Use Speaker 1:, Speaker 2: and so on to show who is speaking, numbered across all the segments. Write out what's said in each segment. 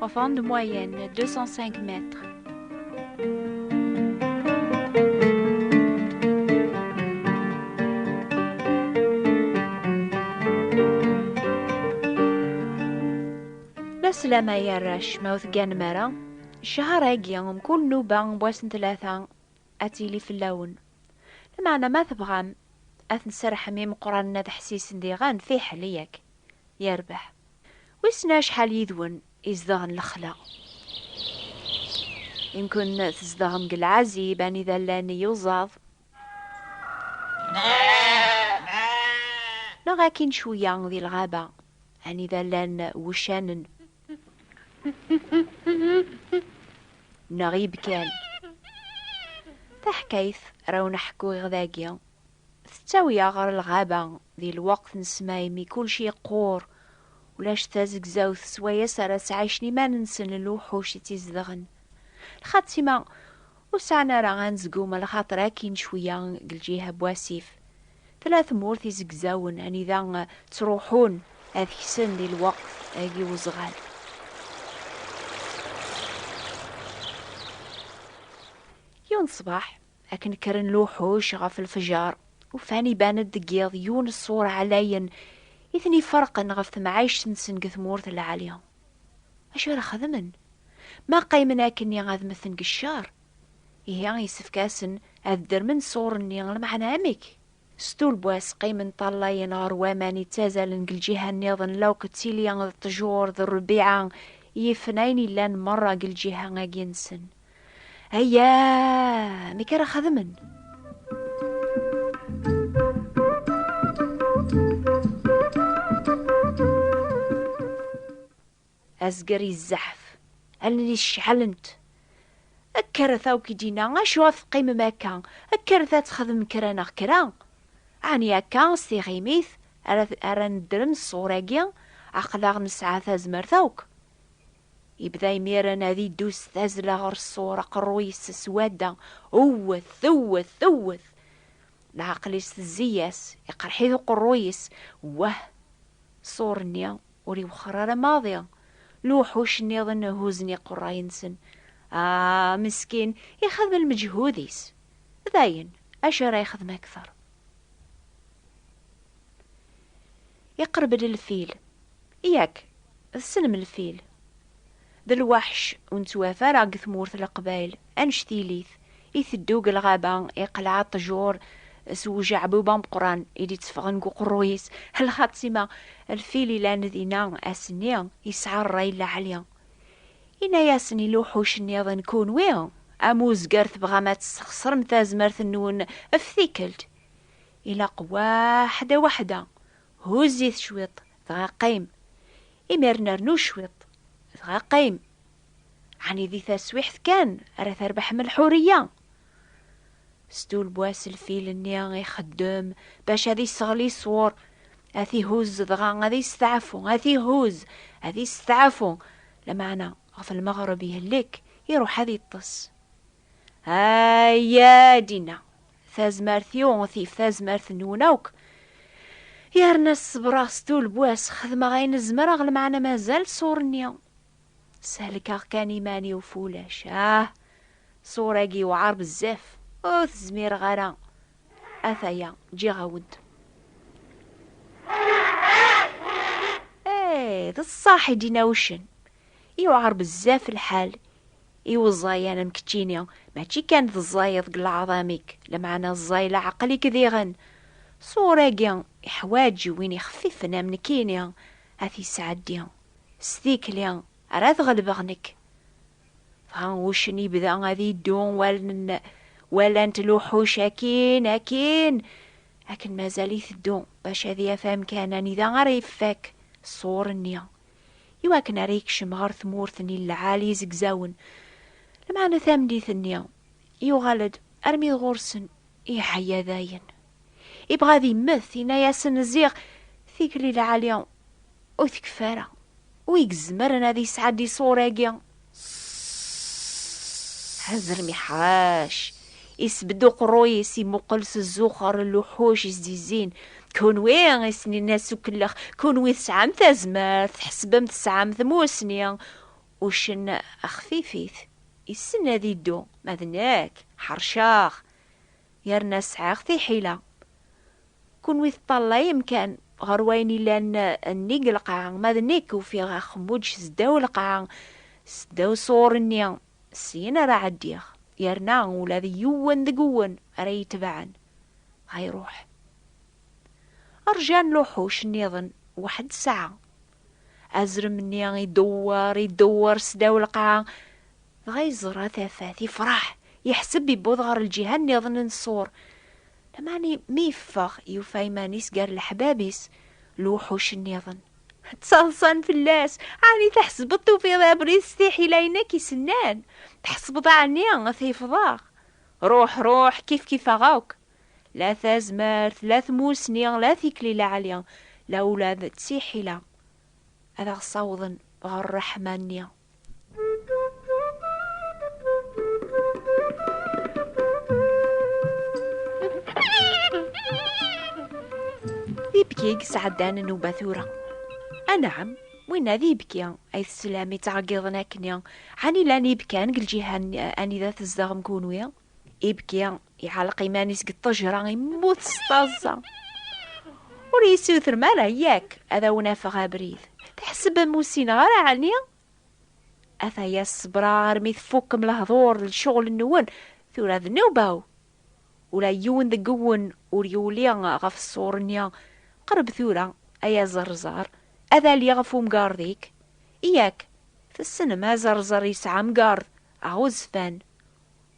Speaker 1: Enfant de moyenne, 205 mètres. L'aslam ay arrac ma ur tegganem ara, ccehar-agi mkul nnuba n wass n tlata ad tili fell-awen. Lameɛna ma tebɣam ad ten-serrḥem imeqqranen ad ḥsisen diɣen fiḥel yak yerbeḥ. Wissen acḥal yid-wen izdeɣen lexla? Imkun tzedɣem deg lɛazib anida llan iyuzaḍ. Neɣ akkin cwiya di lɣaba anida llan wuccanen. Neɣ ibkan. Taḥkayt ara wen-ḥkuɣ dagi. Tettawi-aɣ ɣer lɣaba di lweqt n ssma imi kulci yeqqur, ulac tazegzawt s wayes ara sɛicen iman-nsen lewḥuc i tt-izedɣen. Lxatima, ur sɛan ara anezgum a lxaṭer akkin cwiya deg lǧiha n wasif. Tella tmurt izegzawen anida ttruḥun ad ksen di lweqt agi n uzɣal. Yiwen ṣṣbeḥ, Akken kkren luḥuc ɣef lefjer, ufan iban-d deg yiḍ yiwen n ṣṣur ɛlayen i ten-iferqen ɣef temɛict-nsen deg tmurt lɛali. Acu ara xedmen? Ma qqimen akkenni ad mmten deg ccer? Ihi yessefk-asen ad ddremen ṣṣur-nni, lmeɛna amek? S tulbas, qqimen ṭṭalayen ɣer waman yettazalen deg lǧiha nniḍen, lawk d tilya d ṭṭjur d rrbiɛa, yifen ayen yellan merra deg lǧiha agi-nsen. Ayya! Amek ara xedmen? Azger yezzeḥf, allen-is ceɛlent. Kkret akk i d-yenna, acu ad teqqimem akka, kkret ad texdem kra neɣ kra. Ɛni akka s tiɣimit ara ara neddrem ṣṣur-agi, aql-aɣ nesɛa tazmert akk. Yebda imiren ad iddu s tazzla ɣer ṣṣur, aqerruy-is s wadda, wwet, wwet, wwet. Leɛqel-is tezzi-yas, iqerreḥ-it uqerruy-is, wah! Ṣṣur-nni Ur iwexxeṛ ara maḍi. Lewḥuc nniḍen huzzen iqeṛṛay-nsen. Ah, meskin, ixedem lmeǧhud-is. Dayen, acu ara yexdem akteṛ? Iqeṛṛeb-d lfil. Yak, tessnem lfil. D lweḥc ur nettwaf ara deg tmurt leqbayel, anect yili-t, iteddu deg lɣaba, iqleɛ ṭṭjur s ujeɛbub ameqqran i d-itteffɣen deg uqerruy-is, lxaṭi ma lfil ilan dinna ass-nni yesɛa rray laɛli. Inna-yasen i lewḥuc nniḍen, Kunwi, am uzger tebɣam ad tesxeṣrem tazmert-nwen ɣef tikkelt, ilaq waḥda waḥda Huzz-it cwiṭ, dɣa qqim. Imiren rnu cwiṭ, dɣa qqim. Ɛni di taswiḥt kan ara terbeḥm lḥuriya? Stulbwas lfil-nni ixeddem bac ad iseɣli ṣwur, ad t-ihuzz dɣa ad isteɛfu, ad t-ihuzz, ad isteɛfu, lameɛna ɣef lmeɣreb ihlek, iruḥ ad iṭṭes. Aya dinna, tazmert-iw tif tazmert-nwen akk. Yerna ṣebreɣ s tulbwas, xedmeɣ ayen zemreɣ lmeɛna mazal ṣur-nni. Selkeɣ kan iman-iw f ulac. Ah! Ṣur-agi yewɛer bezzaf, ur t-zmireɣ ara. Ataya, ǧǧiɣ-awen-t. Eh, d ṣṣaḥ i d-yenna uccen. Yewɛer bezzaf lḥal. Iweẓẓay anam keččini, mačči kan teẓẓayeḍ deg leɛḍam-ik, lameɛna ẓẓay leɛqel-ik diɣen. Ṣṣwur-agi iḥwaǧ win ixfifen am nekkini ad t-yesɛeddi. S tikli ara t-ɣelbeɣ nekk. Dɣa uccen yebda ad iddu walan-t luḥuc akkin, akkin, akken mazal iteddu bac ad yaf amkan anida ara ifak ṣṣwur-nni. i wakken ara yekcem ɣer tmurt n Ilɛal Izegzawen, lameɛna tameddit-nni, yuɣal-d armi d ɣur-sen, yeɛya dayen. Ibɣa ad immet, yenna-yasen ziɣ tikli lɛali ur tekfi ara, wi izemren ad yesɛeddi ṣṣwur-agi? Hazrem iḥac, isbedd uqerruy-is imuqel s zzuxer n luḥuc izzizzin. Kunwi i s-ninna s ukellex, kunwi tesɛam tazmert, tḥesbem tesɛam tmussni. Uccen xfifit, issen ad iddu, ma d nekk ḥerceɣ, yerna sɛiɣ tiḥila. Kunwi teṭṭallayem kan ɣer wayen yellan nnig n lqaɛa, ma d nekk ufiɣ axemmuǧ seddaw lqaɛa, seddaw ṣur-nni, syin ara ɛeddiɣ, yerna ula d yiwen deg-wen ara iyi-itebɛen, ɣa iruḥ. Rjan luḥuc nniḍen weḥd ssaɛa, Azrem-nni idewwer, idewwer sdaw lqaɛa, dɣa yeẓra tafat, yefreḥ, yeḥseb yewweḍ ɣer lǧiha nniḍen n ṣṣur. Lameɛna mi yeffeɣ, yufa iman-is gar leḥbab-is, lewḥuc nniḍen. Ttaḍsan fell-as, Ɛni tḥesbeḍ tufiḍ abrid s tiḥila-inu akk isennan? Tḥesbeḍ ɛni ad t-ifḍeɣ? Ruḥ, ruḥ, kifkif-aɣ akk! la tazmert, la tmussni, la tikli laɛli, la ula d tiḥila ad aɣ-ssawḍen ɣer ṛṛeḥma-nni. ibki yesɛeddan nnuba tura. Anɛam, winna d ibki ay teslam yettɛeggiḍen akkenni, ɛni llan ibkan deg lǧiha anida tzedɣem kunwi? Ibki iɛelleq iman-is deg ṭṭejra, immut s taẓẓa. Ur yessutrem ara yak ad awen-afeɣ abrid. Tḥesbem ur ssineɣ ara ɛni? Ata-ya ṣebreɣ armi tfukkem lehdur d lecɣel-nwen, tura d nnuba-w. Ula yiwen deg-wen ur yuli ɣef ṣṣur-nni. Qreb tura, ay aẓerẓer, ad aliɣ ɣef umgarḍ-ik. Yak, tessnem aẓerẓer yesɛa amgarḍ, aɣezfan.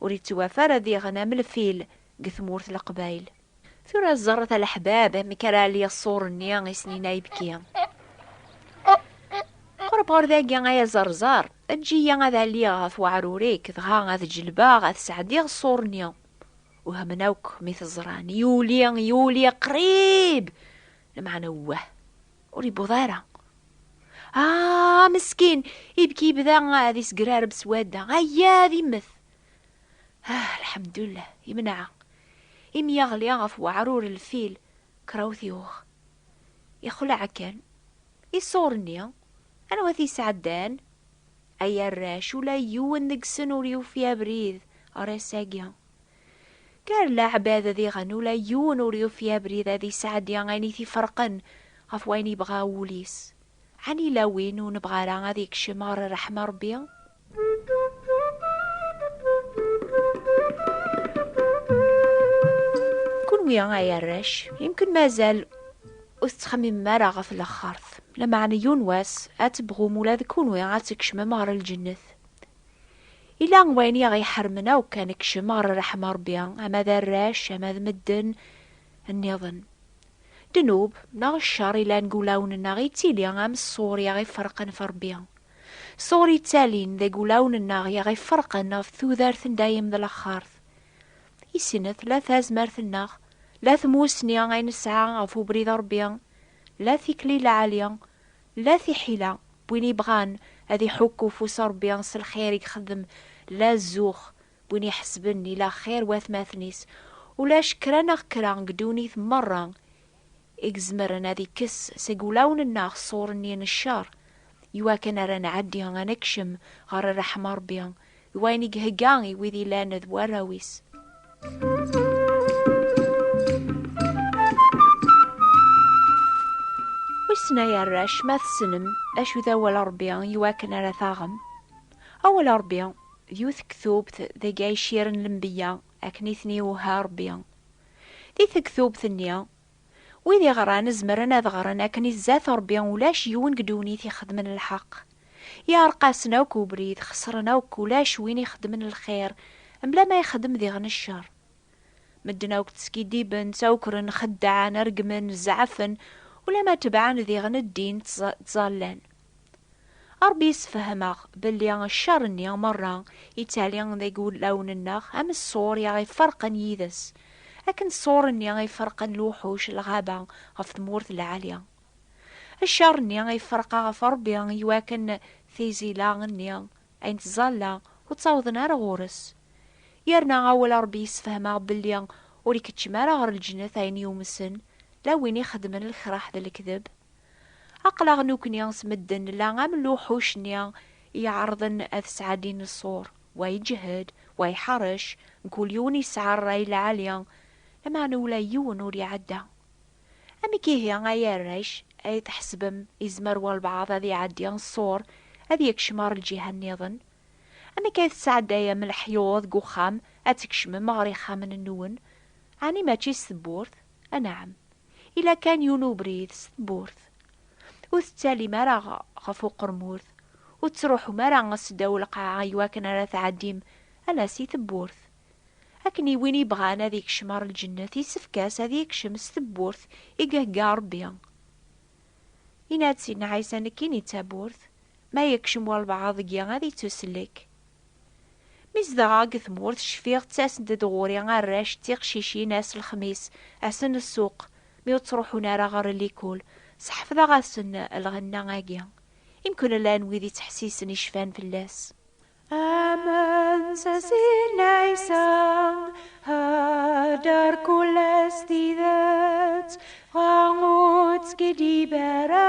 Speaker 1: Ur yettwafa ara diɣen am lfil deg tmurt leqbayel. Tura ẓerret a leḥbab amek ara ɛelliɣ ṣṣur-nni i snin ayefki. Qreb ɣer dagi ay aẓerẓar, eǧǧ-iyi ad ɛelliɣ ɣef weɛrur-ik, dɣa ad ǧelbeɣ ad sɛeddiɣ ṣṣur-nni. Wehmen akk mi t-ẓran, yuli, yuli, qrib! Lmeɛna uwah! Ur yewweḍ ara. Ah, meskin, ibki yebda ad yesgrareb s wadda. Aya ad immet. Ah, lḥemdullah, imneɛ. Imi yaɣli ɣef weɛrur lfil, krawt yuɣ. Ixleɛ kan. Iṣuren-nni, anwa t-yesɛeddan? Ay arrac, ula yiwen deg-sen ur yufi abrid ɣer ass-agi. Gar leɛbad diɣen ula yiwen ur yufi abrid ad isɛeddi ayen i t-iferqen ɣef wayen yebɣa wul-is. Ɛni yella win ur nebɣa ara ad yekcem ɣer rreḥma n Rebbi? Kunwi ay arrac, yemken mazal ur tettxemmimem ara ɣef lexxert, lameɛna yiwen wass ad tebɣum ula d kunwi ad tkecmem ɣer lǧennet. Yella wayen i aɣ-iḥermen akk ad nekcem ɣer ṛṛeḥma Ṛebbi, ama d arrac, ama d medden nniḍen. Ddnub, neɣ cceṛ yellan deg wulawen-nneɣ yettili am ṣṣur i aɣ-iferqen ɣef Ṛebbi. Ṣṣur yettalin deg wulawen-nneɣ i aɣ-iferqen ɣef tudert n dayem d laxert. I sin-a tella tazmert-nneɣ, la tmussni ay nesɛa ɣef ubrid n Ṛebbi, la tikli lɛali, La tiḥila n win yebɣan ad iḥukku ufus n Rebbi s lxir i ixeddem, la zzux n win iḥesben ila axir watmaten-is. Ulac kra neɣ kra deg ddunit merra i izemren ad ikkes seg wulawen-nneɣ ṣṣur-nni n ccer, iwakken ara nɛeddi ad nekcem ɣer ṛṛeḥma n Rebbi. d wayen i ihegga i wid yellan d warraw-is. Wissen ay arrac ma tessnem acu d awal Ṛebbi i wakken ara taɣem? Awal Ṛebbi d yiwet n tektubt deg ay cciren lenbeyya akken i ten-iwehha Ṛebbi. Di tektubt-nni, Wid iɣran zemren ad ɣren akken i zzat Rebbi ulac yiwen deg ddunit ixedmen lḥeq. Yeɛreq-asen akk ubrid, xesren akk, ulac win ixedmen lxir, mebla ma ixedem diɣen ccer. Medden akk ttskiddiben, ttawkren, xeddɛen, reggmen, zeɛfen, ulamma tebɛen diɣen ddin, ttẓallan. A Ṛebbi yessefhem-aɣ belli ccer-nni meṛṛa yettali deg wulawen-nneɣ am ṣṣur i aɣ-iferqen yid-s, akken ṣṣur-nni i ferqen lewḥuc n lɣaba ɣef tmurt lɛali. Ccer-nni iferqa ɣef Ṛebbi iwakken tizila-nni ay nettẓalla ur ttawḍen ara ɣur-s. Yerna awal a Ṛebbi yessefhem-aɣ belli ur ikeččem ara ɣer lǧennet ayen yumsen, la win ixeddmen lkraḥ d lekdeb, Aqlaɣ nukni s medden nella am luḥuc-nni iɛerḍen ad sɛaddin ṣṣur, wa iǧehhed, wa iḥerrec, mkul yiwen yesɛa rray lɛali, lameɛna ula yiwen ur iɛedda. Amek ihi ay arrac ay tḥesbem yezmer walbaɛḍ ad iɛeddi ṣṣur, ad yekcem ɣer lǧiha niḍen? Amek ay tesɛeddayem leḥyuḍ deg uxxam ad tkecmem ɣer yixxamen-nwen? Ɛni mačči s tewwurt? Anɛam. Ila kan yiwen ubrid s tewwurt. Ur tettalim ara ɣef uqermud, ur tettruḥum ara seddaw lqaɛa iwakken ara tɛeddim ala si tewwurt. Akken i win yebɣan ad yekcem ɣer lǧennet yessefk-as ad yekcem s tewwurt i yehegga Rebbi. Yenna-d Sidna Ɛisa, Nekkini d tawwurt, ma yekcem walebɛaḍ deg-i ad yettusellek. Mi zedɣeɣ deg tmurt, cfiɣ ttasent-d ɣur-i arrac d tiqcicin ass lexmis, ass n ssuq, mi ur ttruḥun ara ɣer likul. Sḥefḍeɣ-asen lɣenna-agi. Imkul llan wid yettḥessisen i cfan fell-as. Aman s asin ɛisa, ḥader kullas tidet, dɣa ur tt-skidib ara,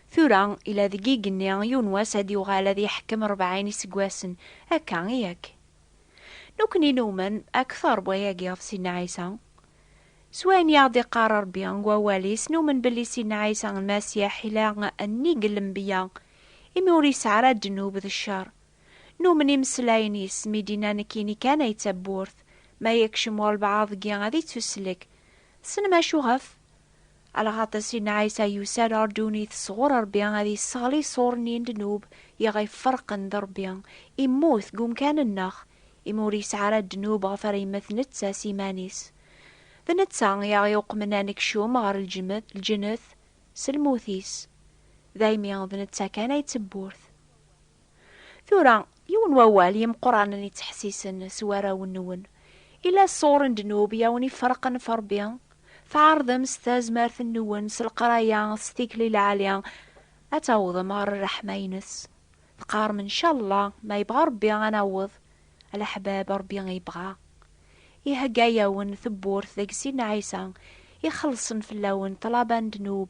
Speaker 1: Tura, ila deg igenni, yiwen wass ad yuɣal ad yeḥkem rebɛin iseggasen. Akka i yak? Nekkni numen akteṛ n wayagi ɣef Sidna Ɛisa. S wayen i aɣ-d-iqqar Ṛebbi deg Wawal-is, numen belli Sidna Ɛisa Lmasiḥ ila nnig n lenbeyya, imi ur yesɛi ara ddnub d cceṛ. Numen imeslayen-is mi d-inna nekkini kan ay d tawwurt, ma yekcem walbeɛḍ deg-i ad ittuslek. Tessnem acuɣef? Lɣaṭ-is i Ɛisa yusa-d ɣer ddunit sɣur Ṛebbi ad yesseɣli iṣuṛ-nni n ddnub i ɣ-iferqen d Ṛebbi. Immut deg umkan-nneɣ, imi ur yesɛi ara ddnub ɣef ara yemmet netta s iman-is. D netta i aɣ-iuqmen ad nekcum ɣer lǧennet s lmut-is. Daymi d netta kan ay d tewwurt. Tura, yiwen wawal i yimeqqranen yettḥessisen s warraw-nwen, Yella ṣṣur n ddnub i awen-iferqen ɣef Ṛebbi? Tɛerḍem s tazmert-nwen, s leqraya, s tikli lɛali, ad tawḍem ɣer ṛṛeḥma-ines. Teqqarem, Ncallah, ma yebɣa Ṛebbi ad naweḍ. Alaḥbab, Ṛebbi yebɣa. Ihegga-yawen tewwurt deg Sidna Ɛisa, ixellṣen fell-awen ṭṭlaba n ddnub,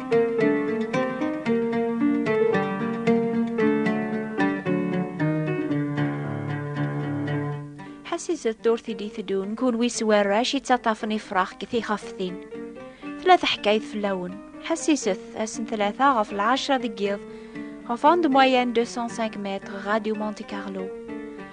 Speaker 1: Ḥassiset ddurt i d-iteddun, kunwi s warrac i ttaṭṭafen ifrax deg tixaftin. Tella teḥkayt fell-awen. Ḥassiset, ass n tlata ɣef lɛecra deg yiḍ, ɣef onde moyenne 205 mètres, Radio Monte Carlo.